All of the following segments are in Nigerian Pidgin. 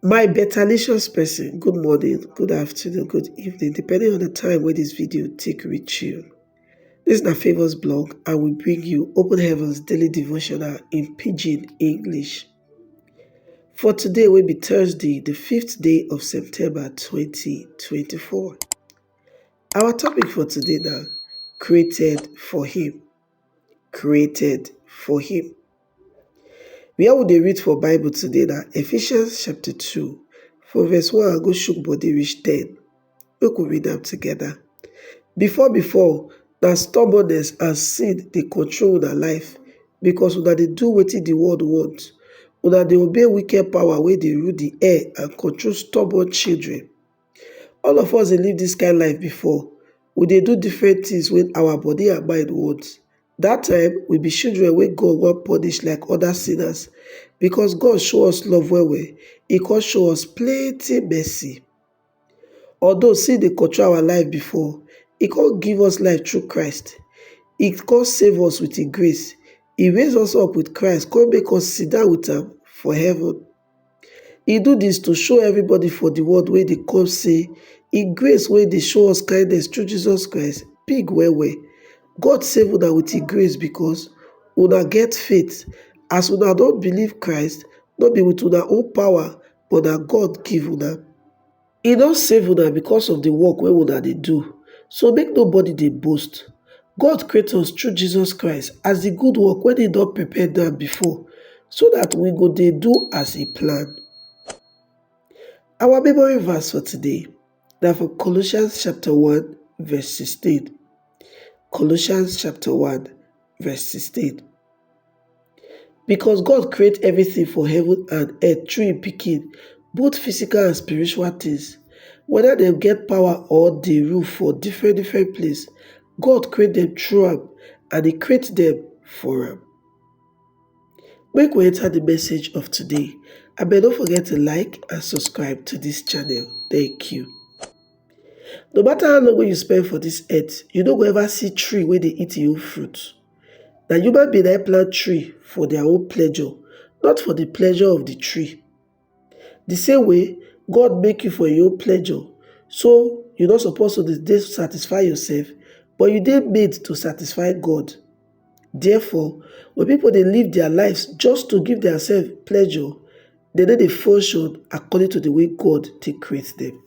My betalicious person, good morning, good afternoon, good evening, depending on the time wey this video take reach you. This na Favours blog and we bring you Open Heavens Daily Devotional in Pidgin English. For today wey be Thursday, the fifth day of September 2024. Our topic for today na created for him. created for him. Where we dey read for bible today na Ephesians chapter two from verse one go shook body reach ten. Make we read am together. Before before na stubbornness and sin dey control una life because una dey do wetin the world want. Una dey obey wicked power wey dey rule the air and control stubborn children. All of us dey live dis kind life before, we dey do different things wey our body and mind want. Dat time, we be children wey God wan punish like other sinners. Because God show us love well well, e come show us plenty mercy. Although sin dey control our life before, e come give us life through Christ. E come save us with im grace. E raise us up with Christ come make us sit down with am for heaven. He do this to show everybody for the world wey dey come say he grace wey dey show us kindness through Jesus Christ big well well. God save una with he grace because una get faith. As una don believe Christ, no be with una own power but na God give una. E don save una because of the work wey una dey do, so make nobody dey boast. God create us through Jesus Christ as the good work wey he don prepare down before so that we go dey do as he plan. Our memory verse for today na from Colossians chapter 1 verse 16. Colossians chapter 1 Verse 16 Because God create everything for heaven and earth through im Pikin, both physical and spiritual things, whether dem get power or dey rule for different different place, God create dem through am and e create dem for am. Make we enter the message of today. Abeg no forget to like and subscribe to this channel. Thank you. No matter how long wey you spend for dis earth, you no go ever see tree wey dey eat im own fruit. Na human being na im plant tree for their own pleasure, not for the pleasure of the tree. The same way, God make you for im own pleasure, so you no suppose to dey satisfy yourself, but you dey made to satisfy God. Therefore, when people dey live their lives just to give theirself pleasure, dem no dey function according to the way God take create them.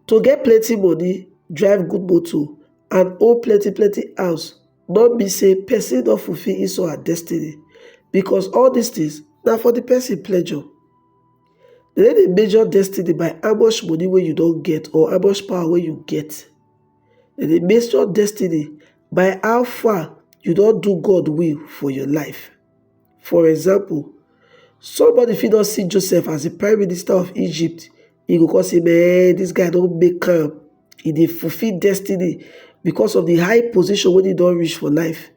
To get plenty money, drive good motor and own plenty plenty house no mean say person don fulfill his or her destiny because all these things na for the person pleasure. Dem no dey measure destiny by how much money wey you don get or how much power wey you get. Dem dey measure destiny by how far you don do God will for your life. For example, somebody fit don see Joseph as the prime minister of Egypt, he go come say, man, this guy don make am, he dey fulfill destiny because of the high position wey he don reach for life.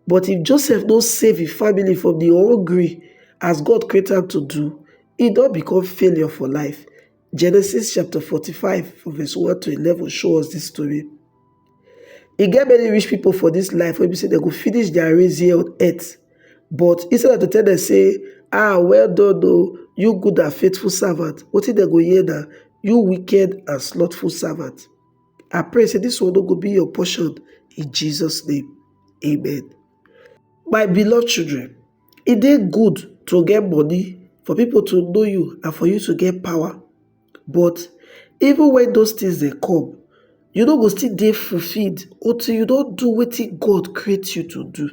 But if Joseph no save his family from the hungry as God create am to do, he don become failure for life. Genesis chapter 45 from verse 1 to 11 show us this story. E get many rich people for this life wey be say they go finish their race here on earth. But instead of to tell them say, ah, well done o, you good and faithful servant, wetin they go hear na, you wicked and slothful servant. I pray say this one no go be your portion in Jesus name. Amen. My beloved children, E dey good to get money for people to know you and for you to get power but even when those things dey come you no go still dey fulfilled until you don do wetin God create you to do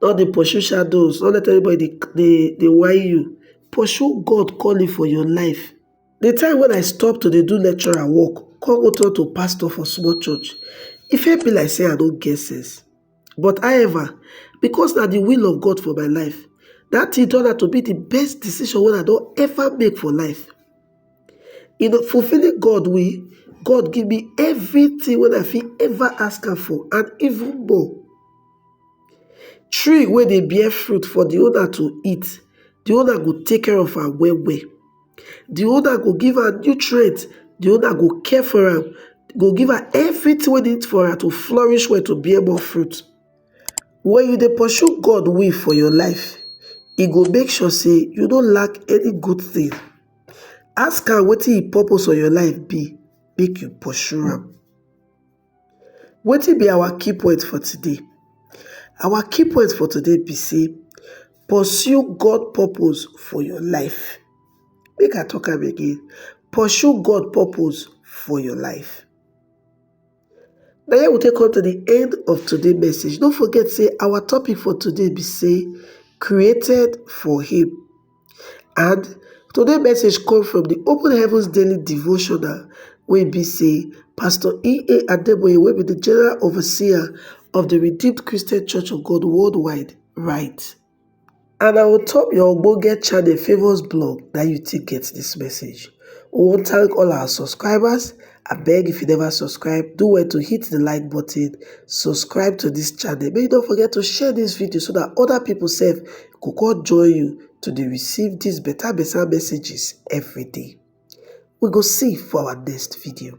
no dey pursue shadows, no let anybody dey dey whine you pursue God calling for your life the time when I stop to dey do lecturer work come go turn to pastor for small church e first be like say I no get sense But however, because na di will of God for my life, dat tin turn out to be di best decision wey I don ever make for life. In fulfilling God will, God give me everytin wey I fit ever ask am for and even more. Tree wey dey bear fruit for di owner to eat, di owner go take care of am well well. di owner go give her nutrients di owner go care for am go give her everything wey need for her to flourish well to bear more fruit wen you dey pursue God way for your life e go make sure say you no lack any good thing ask am wetin him purpose for your life be make you pursue am Wetin be our key point for today? Our key point for today be sey pursue God purpose for your life. Make I talk am again, pursue God purpose for your life. Na here we take come to the end of today message. No forget sey our topic for today be sey created for him. And today message come from the Open Heavens Daily devotional wey be say Pastor E.A. Adeboye wey be the General Overseer of the Redeemed Christian Church of God Worldwide write. And na on top your ogbonge channel Favour's blog na you take get this message. We wan thank all our subscribers Abeg if you never subscribe, do well to hit the like button, subscribe to this channel, make you don't forget to share this video so that other people sef go come join you to dey receive these better better messages every day. We go see for our next video.